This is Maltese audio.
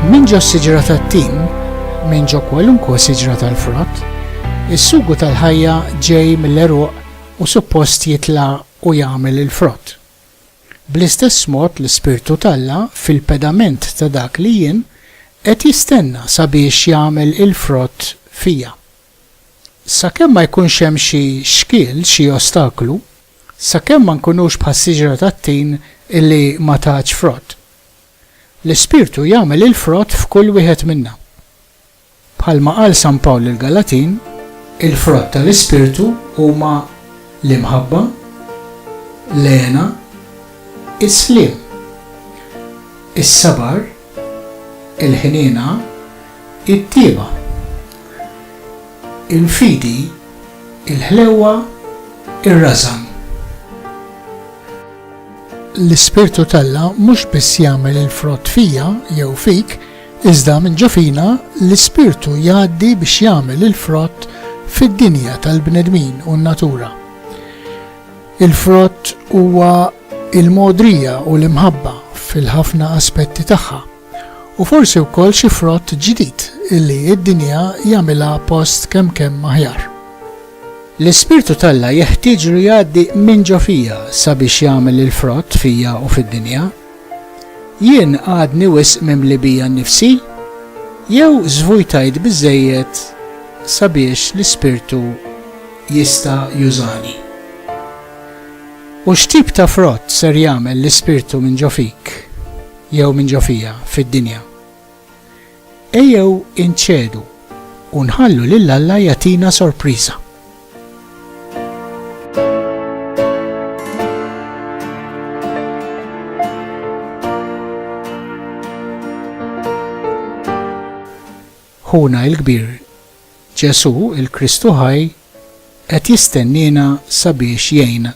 Min ġo s-siġra tat-tin, min ġo kwalunkwe siġra tal-frott, is-sugu tal-ħajja ġej mill-eruq u suppost jitla u jagħmel il-frott. Bl-istess mod l-Ispirtu t'Alla fil-pedament ta' dak li jien qed jistenna sabiex jagħmel il-frott fija. Sakemm ma jkunx hemm xi xkiel, xi ostaklu, sakemm ma nkunux bħas-siġra tat-tin li ma tatx frott. L-Ispirtu jagħmel il-frott f'kull wieħed minna. Bħalma qal San Pawl lill-Galatin, il-frott tal-Ispirtu huma l-imħabba, l-hena, is-sliem, is-sabar, il-ħniena, it-tjieba, il-fidi, il-ħlewwa, ir-rażan. L-Ispirtu t'Alla mhux biss jagħmel il-frott fija jew fik, iżda minn ġo fina l-Ispirtu jgħaddi biex jagħmel il-frott fid-dinja tal-bnedmin u n-natura. Il-frott huwa il-mogħdrija u l-imħabba fil-ħafna aspetti tagħha, u forsi wkoll xi frott ġdid li d-dinja jagħmilha post kemm kemm aħjar. L-Ispirtu t'Alla jeħtieġlu jgħaddi minn ġo fija sabiex jagħmel il-frott fija u fid-dinja. Jien għadni wisq mimli bija nnifsi? Jew żvujtajt biżżejjed sabiex l-Ispirtu jista' jużani? U x'tip ta' frott ser jagħmel l-Ispirtu minn ġo fik, jew minn ġo fija, fid-dinja? Ejjew inċedu u nħallu lil Alla jagħtina sorpriża. Ħuna il-Kbir, Ġesù, il-Kristu ħaj, qed jistenniena sabiex jgħinna.